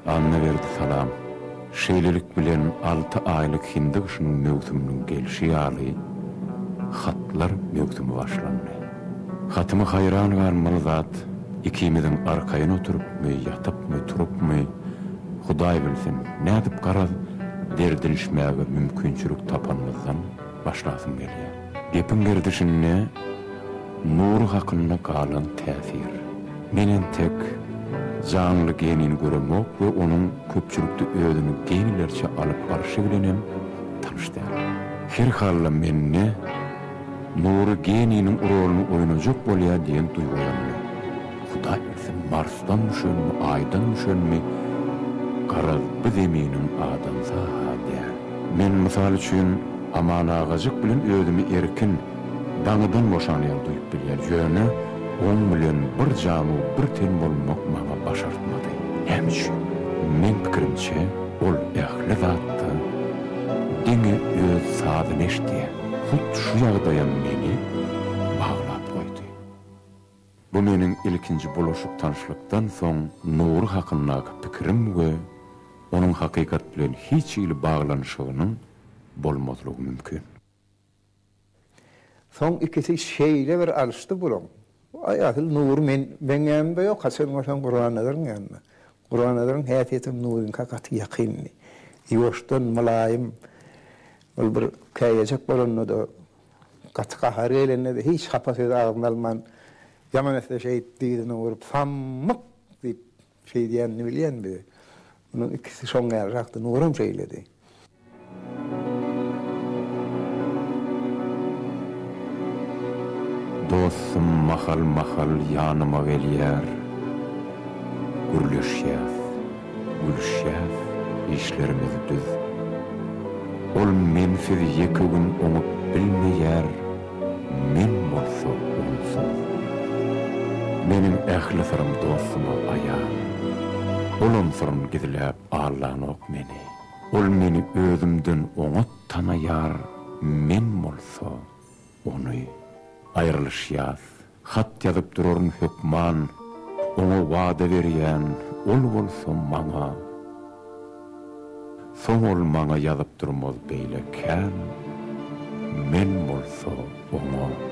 Annaberdi salam. Şeýlelik bilen alty aýlyk hindi gyşynyň möwsüminiň gelşi ýaly, hatlar möwsümi başlandy. Hatyma haýran galmaly zat, ikimiziň arkaýyn oturypmy, ýatypmy, turupmy, Hudaý bilsin, nädip garaz derdinişmäge mümkinçilik tapanymyzdan başlasym gelýär. Gepiň gerdişinde Nury hakynda galan täsir. Men entek janly genini göremok we onuň köpçülikde özüni genilerçe alyp barşy bilenem tanyş däl. Her halda mende Nury geniniň roluny oýnajak bolýa diýen duýgulanma. Hudaý bilsin marsdan düşenmi aýdan düşenmi garaz bu zeminiň adamsa-ha däl. Men mysal üçin Aman agajyk bilen özümi erkin, daňydan boşan ýaly duýup bilýän ýöne oň bilen bir janu bir ten bolmak maňa başartmady. Näme üçin? Meň pikirimçe ol ähli zatda diňe öz sazyny eşdýä. Hut şu ýagdaýam meni baglap goýdy. Bu meniň ilkinji bulaşyk tanyşlykdan soň Nury hakyndaky pikirim we onuň hakykat bilen hiç hili baglanyşygynyň bolmazlygy mümkin. Soň ikisi şeýle bir alşdy bulaň, Aý asyl Nury men meň ýanymda ýok haçan görseň Gurbannazaryň ýanynda. Gurbannazaryň häsiýetem Nuryňka gaty ýakyndy. Ýuwaşdan, mylaýym. Ol bir käýejek bolanda-da, gaty gahary gelende-de hiç hapa sözi agzyna alman, ýaman etse şeýdip dyzyny urup, Sammyk! diýip, Şeýdýänini bilýän biz. Munuň ikisi şoň ýalyrakdy. Nuram şeýledi. Dostum mahal-mahal ýanyma gelýär. Gürleşýäs, gülüşýäs, işlerimiz düz. Ol mensiz ýeke gün oňup bilmeýär. Men bolsa onsuz. Meniň ähli syrymy dostuma aýan. Olam syryny gizläp allanok meni. Ol meni özümden oňat tanaýar, men bolsa, ony. Aýrylyşýas, Hat ýazyp duraryn hökman, Oňa wada berýän ol bolsa maňa. Soň ol maňa ýazyp durmaz beýle kän, Men bolsa oňa.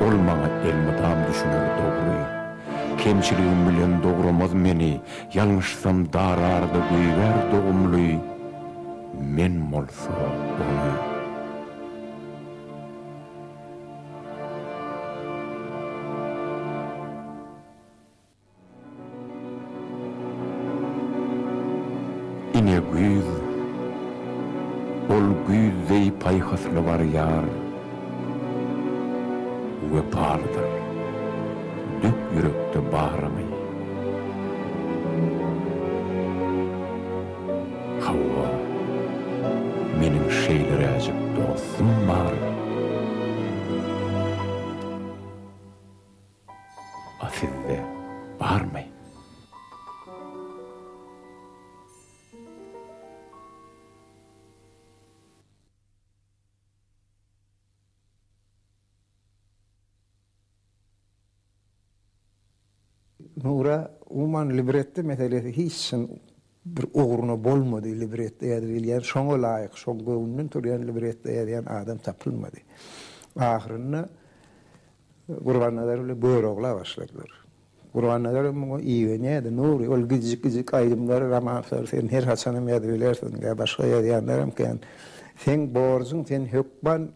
Ol maňa elmydam düşüner dogry. Kemçiligim bilen dogramaz meni, Ýalňyşsam dararda göýbär dogumly, Men bolsa ony. Ine güýz. Ol güýz deý paýhasly barýar. Wepalydyr. Dök ýürekde baryňy. Hawa, meniň şeýleräjik dostum bar. A sizde barmy? Nura, umuman libretto meselesi hiç çyn Bir ugruna bolmady libretto ýazyp bilýän, şoňa laýyk, şoň göwnünden turýan libretto ýazýan adam tapylmady. Ahyrynda Gurbannazar bilen Görogla başladylar. Gurbannazar hem muňa igenýärdi, Nury, ol gijjik-gijjik aýdymlary, romanslary sen her haçanam ýazyp bilersiň, ýa başga ýazýanlaram kän. Seň borjuň, sen hökman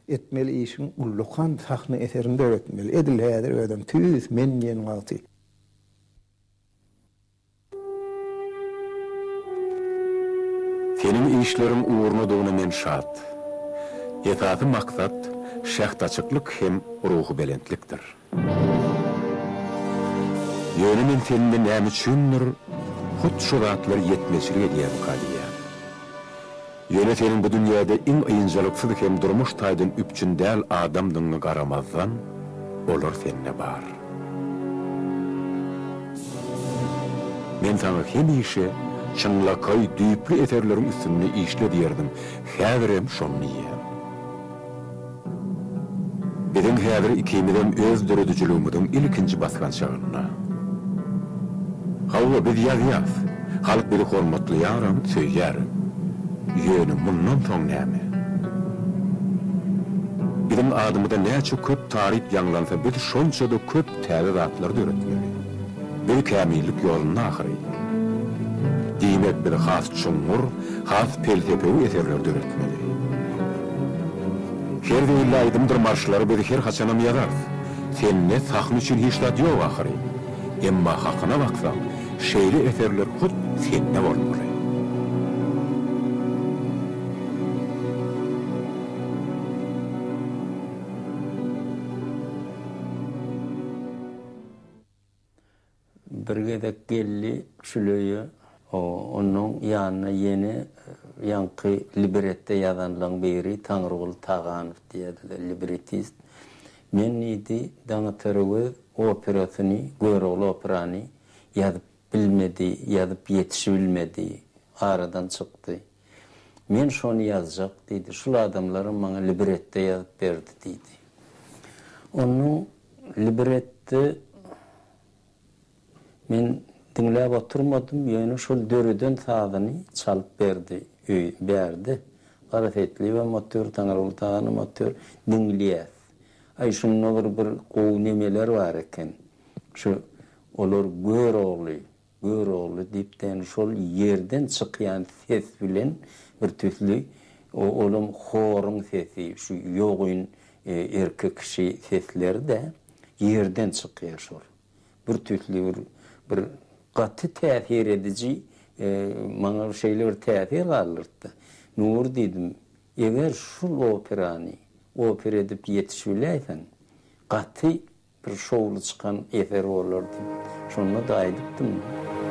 etmeli işiň ullakan sahna eserini döretmeli. Edil häzir özem tüýs men diýen wagty. Seniň işleriň ugrunadygyna men şat. Esasy maksat şähdaçyklyk hem ruhubelentlikdir. Ýöne men sende näme üçindir hut şu zatlar ýetmezçilik edýärmika diýýän. Ýöne seniň bu dünýäde iň ynjalyksyz hem durmuş taýdan üpjün däl adamdygyňa garamazdan, olar sende bar. Men saňa hemişe, Çynlakaý, düýpli eserleriň üstünde işle diýerdim, häzirem şony diýýän. Biziň häzir ikimizem öz döredijiligimiziň ilkinji basgançagynda. Hawa, biz ýazýarys. Halk bizi hormatlaýaram, söýýär. Ýöne mundan soň näme? Biziň adymyza näçe köp taryp ýaňlansa, biz şonça-da köp täze zatlar döretmeli. Biz kämillik ýolunda ahyry. Diýmek biz has çuňňur, has pelsepewi eserler döretmeli. Her zeýilli aýdymdyr marşlary biz her haçanam ýazarys. Sende sahna üçin hiç zat ýok ahyry. Emma hakyna baksaň, şeýle eserler hut sende bolmaly. Bir gezek geldi Şüleýe. Onuň ýanyna ýene ýaňky libretde ýazanlaň biri Taňryguly Taganow diýýärdiler, libretist. Men diýdi, Daňataröwez operasyny, Görogly operany ýazyp bilmedi, ýazyp ýetişibilmedi, aradan çykdy. Men şony ýazjak, diýdi. Şul adamlaram maňa libretto ýazyp berdi, diýdi. Onuň libretty men diňläp oturmadym, ýöne şol döreden sazyny çalyp berdi, öý, bärde. Garaseýitlibem otyr, Taňryguly Taganam otyr, diňleýäs. Aý, şunda bir, bir gowy nemeler bar eken. Şu, olar Görogly, Görogly depdäni şol ýerden çykýan ses bilen bir tüsli, olam horuň sesi, şu ýogyn erkek kişi sesleri-de ýerden çykýar şol. Bir tüsli bir, bir gaty täsir ediji, maňa şeýle bir täsir galdyrtdy. Nury diýdim, eger şul operany opera edip ýetişibiläýseň, gaty Bir şowly çykan eser bolardy. Şonda-da aýdypdym.